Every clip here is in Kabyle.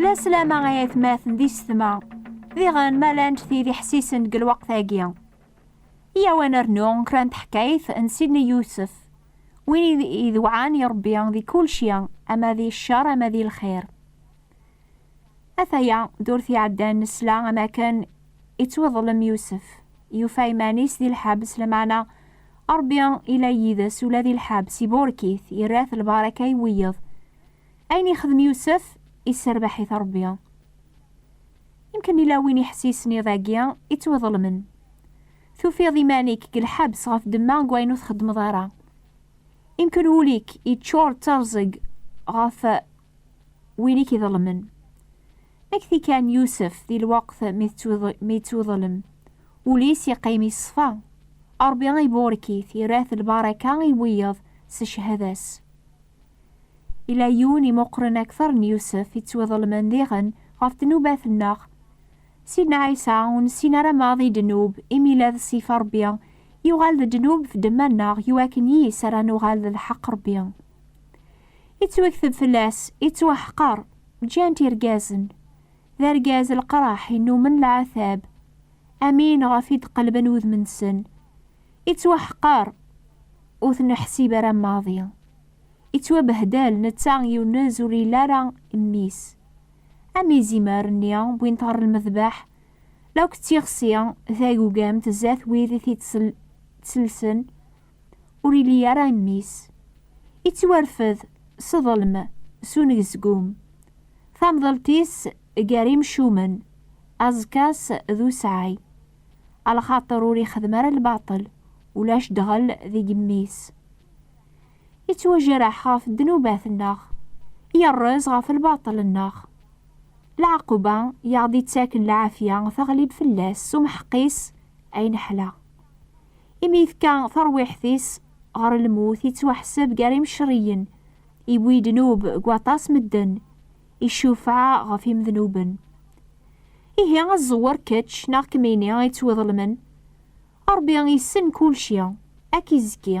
La slama ay atmaten di setma, diɣen ma llant tid iḥessisen deg lweqt-agi. Iyaw ad nernu kra n teḥkayt n Sidni Yusef, win idewɛan i Ṛebbi di kulci, ama di ccer ama di lxir. Ataya, durt iɛeddan nesla am akken ittweḍlem Yusef, yufa iman-is di lḥebs, lameɛna Ṛebbi ila yid-s ula di lḥebs, iburek-it, irra-t lbaraka i wiyeḍ. Ayen ixdem Yusef, isserbeḥ-it Ṛebbi. Imken ila win iḥessisen iḍ-agi ittweḍlemen. Tufiḍ iman-ik deg lḥebs ɣef ddemma n wayen ur txeddmeḍ ara. Imken wul-ik iččur d terẓeg ɣef win i k-iḍelmen. Ad k-t-ikan Yusef di lweqt mi yettwiḍlem, ul-is iqqim yeṣfa, Ṛebbi iburek-it, irra-t lbaraka i wiyeḍ s cchada-s. Yella yiwen imuqren akteṛ n Yusef yettwiḍelmen diɣen ɣef ddnubat-nneɣ. Sidna Ɛisa ur nessin ara maḍi ddnub, imi yella d ṣṣifa Ṛebbi, yuɣal d ddnub f ddemma-nneɣ iwakken yis ara nuɣal d lḥeqq Ṛebbi. Ittwakteb fell-as, ittwaḥqer, ǧǧan-t irgazen. D argaz leqraḥ innumen lɛatab. Amin ɣef i d-qelben wudem-nsen. Ittwaḥqer, ur t-neḥsib ara maḍi. Ittwabehdel, netta yunez ur yelli ara mmi-s. Am izimer-nni wwin-t ɣer lmedbeḥ, la k-tt-ixsi tagugamt zdat wid i t-id-ttellsen, ur ili ara mmi-s. Ittwarfed s ḍelm, s unezgum. Tamḍelt-is gar imcumen, aẓekka-s d usɛay. A lxaṭer ur ixdem ara lbaṭel, ulac ddɣel deg mmi-s. Ittwajreḥ ɣef ddnubat-nneɣ, yerrez ɣef lbaṭel-nneɣ. Lɛaquba i aɣ-d-ittaken lɛafya teɣlib fell-as s umḥeqqi-s, Ay neḥla! Imi yefka tarwiḥt-is ɣer lmut, yettwaḥseb gar imcerriyen, yewwi ddnub deg waṭas medden, icufeɛ ɣef imednuben. Ihi a ẓẓewwer kečč neɣ kemmini i ttwiḍelmen, Ṛebbi yessen kulci, a k-izekki.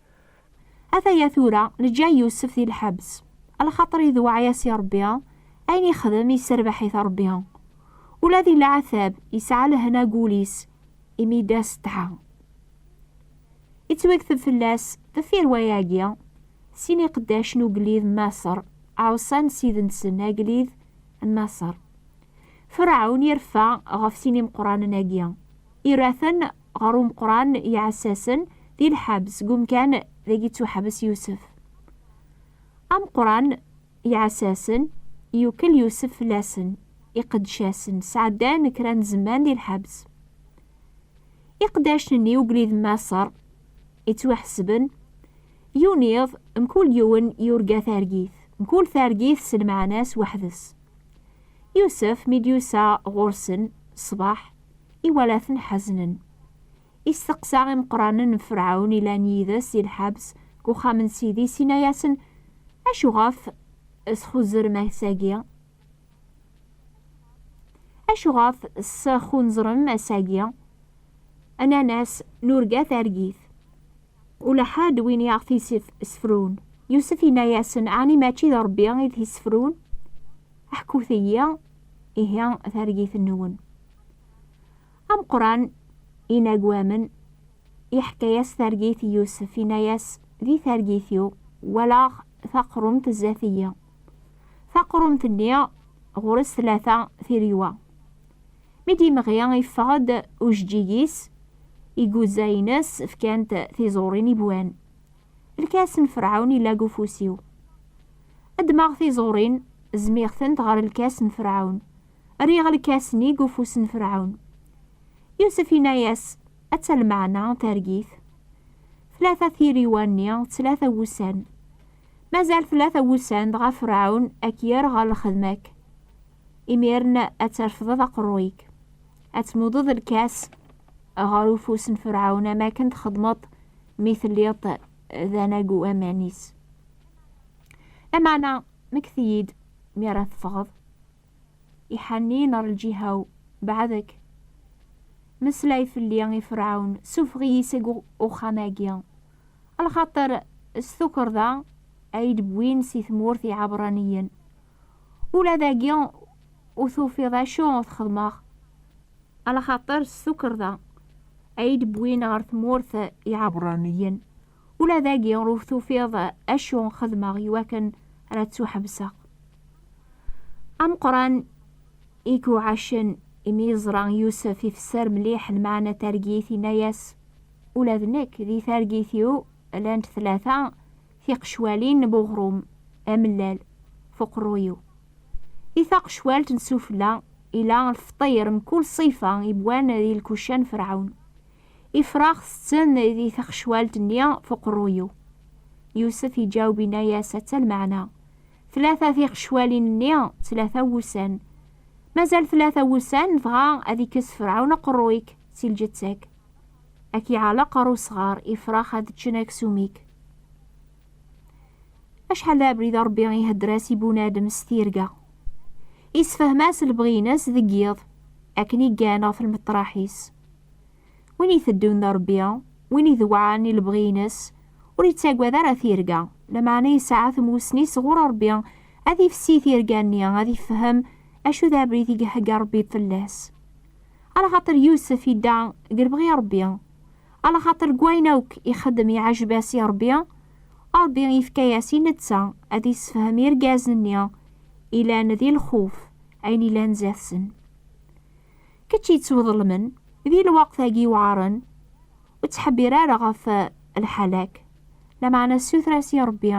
Ataya tura, neǧǧa Yusef di lḥebs. Lxaṭer idewɛeɛ-as i Ṛebbi, ayen ixdem yesserbaḥ-it Ṛebbi. Ula di leɛtab, yesɛa lehna deg wul-is, imi d asetḥa. Ittwakteb fell-as, deffir wayagi, sin n iqeddac n ugellid n Maṣer ɛuṣan ssid-nsen agellid n Maṣer. Ferɛun ireffa ɣef sin imeqqranen-agi, ira-ten ɣer umeqran n yiɛessasen di lḥebs deg umkan dagi ttuḥbes Yusef. Ameqran n yiɛessasen yukel Yusef fell-asen, iqeddcasen sɛeddan kra n zzman di lḥebs. Iqeddacen-nni ugellid n Maṣer ittwaḥesben, yiwen iḍ mkul yiwen yurga targit, mkul targit s lmeɛna-s weḥd-s. Yusef mi d-yusa ɣur-sen ṣṣbeḥ, iwalaten ḥeznen. Isteqsa imeqranen n Ferɛun ilan yid-s i lḥebs deg uxxam n sidi-s, inna-yasen, Acuɣef txuzzrem ass-agi? Acuɣef txunzrem ass-agi? Nnan-as, Nurga targit. Ula ḥedd win i aɣ-t-isefrun. Yusef inna-yasen, Ɛni mačči d Ṛebbi i t-isefrun? Ḥkut-iyi ihi targit-nwen. Ameqran inagwamen iḥka-yas targit i Yusef, inna-yas, Di targit-iw, walaɣ taqrumt zdat-iyi. Taqrumt-nni ɣur-s tlata tiregwa. Mi d-yemɣi, yeffeɣ-d ujeǧǧig-is, iguzza-ines fkan-t tiẓurin i wwan. Lkas n Ferɛun yella deg ufus-iw. Ddmeɣ tiẓurin, zmiɣ-tent ɣer lkas n Ferɛun. Rriɣ lkas-nni deg ufus n Ferɛun. Yusef yenna-yas, Atta lmeɛna targit! Tlata tiriwa-nni d tlata wussan. Mazal tlata wussan, dɣa Ferɛun a k-yerr ɣer lxedma-k. Imiren ad terfdeḍ aqerruy-ik, ad tmudeḍ lkas ɣer ufus n Ferɛun am akken txedmeḍ mi telliḍ d anagu aman-is. Lameɛna mekti-yi-d mi ara teffɣeḍ, iḥanniyen ɣer lǧiha-w, beɛdek. Meslay fell-i i Ferɛun, sufeɣ-iyi seg uxxam-agi, lxaṭer s tukerḍa ay d-wwin si tmurt Iɛebṛaniyen. ula dagi ur tufiḍ acu ur txedmeɣ ala xaṭer s tukerḍa ay d-wwin ɣer tmurt iɛebṛaniyen ula dagi ur tufiḍ acu xedmeɣ iwakken ara ttuḥebseɣ ameqran i kuɛacen imi yeẓra Yusef ifesser mliḥ lmeɛna targit yenna-as ula d nekk di targit-iw llant tlata Tiqecwalin n uɣrum amellal f uqerruy-iw. I taqecwalt n sufella ila lfeṭṭir mkul ṣṣifa yewwan di lkuca n Ferɛun. Ifrax tetten di taqecwalt-nni f uqerruy-iw. Yusef iǧaweb inna-yas atta lmeɛna, Tlata tiqecwalin-nni d tlata wussan. Mazal tlata wussan dɣa ad ikkes Ferɛun aqerruy-ik si lǧetta-k. Ad k-iɛelleq ɣer usɣar, ifrax ad ččen aksum-ik. Acḥal d abrid Ṛebbi ihedder-as i bunadem s tirga. Isefhem-as lebɣi-ines deg yiḍ, akken iggan ɣef lmeṭṭraḥ-is. Win iteddun d Ṛebbi, win idewɛen i lebɣi-ines, ur ittagad ara tirga, lameɛna yesɛa tmussni sɣur Ṛebbi ad ifessi tirga-nni, ad ifhem acu d abrid i ihegga Ṛebbi fell-as. Ala xaṭer Yusef idda deg lebɣi Ṛebbi, ala xaṭer deg wayen akk ixeddem iɛejb-as i Ṛebbi, Ṛebbi ifka-yas i netta ad issefhem irgazen-nni ilan di lxuf ayen ilan zdat-sen. Kečč yettweḍlemen, di lweqt-agi iwɛaren, ur ttḥebbir ara ɣef lḥal-ak, lameɛna ssuter-as i Ṛebbi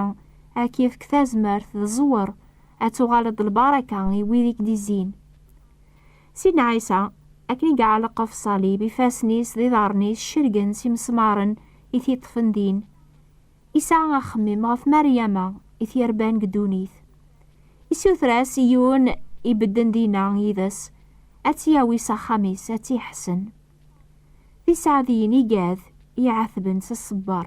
ad k-ifk tazmert d ẓẓwer ad tuɣaleḍ d lbaraka i wid i k-d-izzin. Sidna Ɛisa, akken i yeɛleq ɣef ṣṣalib, ifassen-is d iḍarren-is cergen s imesmaren i t-yeṭṭfen din. Yesɛa axemmem ɣef Maryama i t-yerban deg ddunit. Issuter-as i yiwen ibedden dinna yid-s ad tt-yawi s axxam-is ad tt-iḥsen. D iseɛdiyen igad i iɛatben s ṣṣber.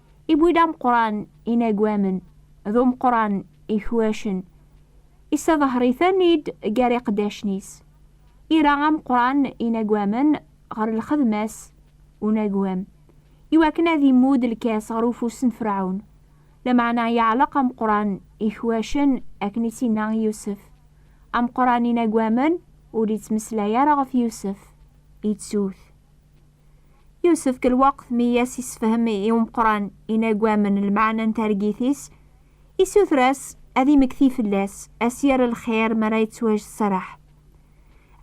Iwwi-d ameqqran inagwamen d umeqqran ikwacen, issaḍher-iten-id gar iqeddacen-is. Ira ameqqran inagwamen ɣer lxedma-s unagwam, iwakken ad immud lkas ɣer ufus n Ferɛun, lameɛna yeɛleq ameqqran ikwacen akken i s-inna i Yusef. Ameqqran inagwamen ur ittmeslay ara ɣef Yusef, ittu-t. Yusefk lweqt mi i as-isefhem i umeqqran inagwamen lmeɛna n targit-is, isuter-as ad imekti fell-as, ad s-yerr lxir mi ara yettwajseraḥ.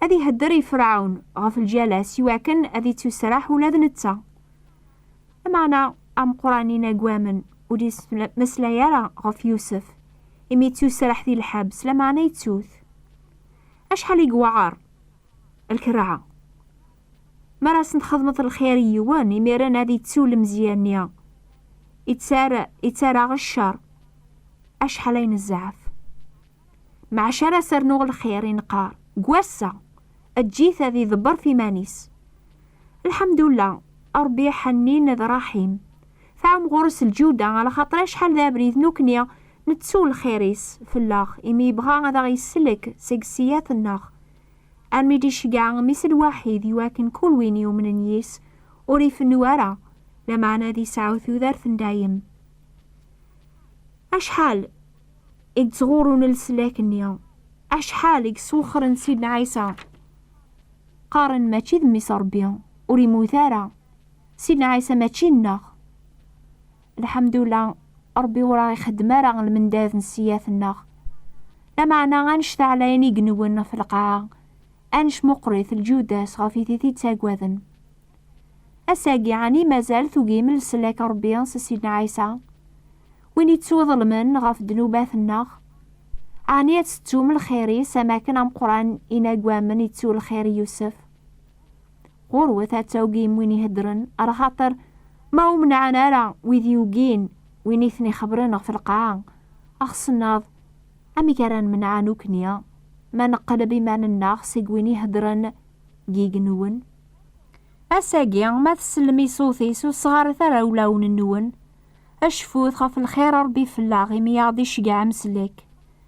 Ad ihedder i Ferɛun ɣef lǧal-as i wakken ad ittusraḥ ula d netta. Lmeɛna, ameqqran inagwamen ur d-yettmeslay ara ɣef Yusef, imi yettusraḥ di lḥebs, lameɛna yettu-t. Acḥal i yewɛer lkerha! Mi ara asen-txedmeḍ lxir i yiwen, imiren ad ittu lemzeyya-nni ittaraɣ ccer acḥal ay nezɛef. Maca ara as-rnuɣ lxir i neqqar deg wass-a, eǧǧ-it ad iḍebber ɣef yiman-is. Lḥemdullah, Ṛebbi iḥennin d ṛṛaḥim, tɛum ɣur-s lǧuda, alaxaṭer acḥal d abrid nekkni nettu lxir-is fell-aɣ imi yebɣa ad aɣ-yesselk seg sseyat-nneɣ, Armi d-iceggeɛ mmi-s lwaḥid i wakken kul win yumnen yis, ur ifennu ara, lameɛna ad isɛu tudert n dayem. Acḥal i yettɣurrun leslak-nni, acḥal i yesswexxren Sidna Ɛisa. Qqaren mačči d mmi-s Ṛebbi, ur immut ara. Sidna Ɛisa mačči nneɣ. Lḥemdula, Ṛebbi ur aɣ-ixeddem ara lmendad n ssiyat-nneɣ. Lameɛna annect-a ɛlayen igenwen ɣef lqaɛa, annect meqqṛit lǧyuda-s ɣef it i t-ittaggaden. Ass-agi, ɛni mazal tugim leslak n Ṛebbi s Ssidna Ɛisa? Win ittwaḍelmen ɣef ddnubat-nneɣ? Ɛni ad tettum lxir-is am akken ameqqṛan inaggamen ittu lxir i Yusef? Ɣurwet ad tawgim win iheddren, ar axaṭer ma ur menɛen ara wid yugin win i ten-ixebren ɣef lqaɛa, axsennaḍ, amek ara nemneɛ nukni ma neqleb iman-nneɣ seg win iheddren deg yigenwen? Ass-agi, ma tsellem i ṣṣut-is, ur sɣaret ara ulawen-nwen, acfut ɣef lxir n Ṛebbi fell-aɣ, imi i aɣ-d-iceggɛem s lek.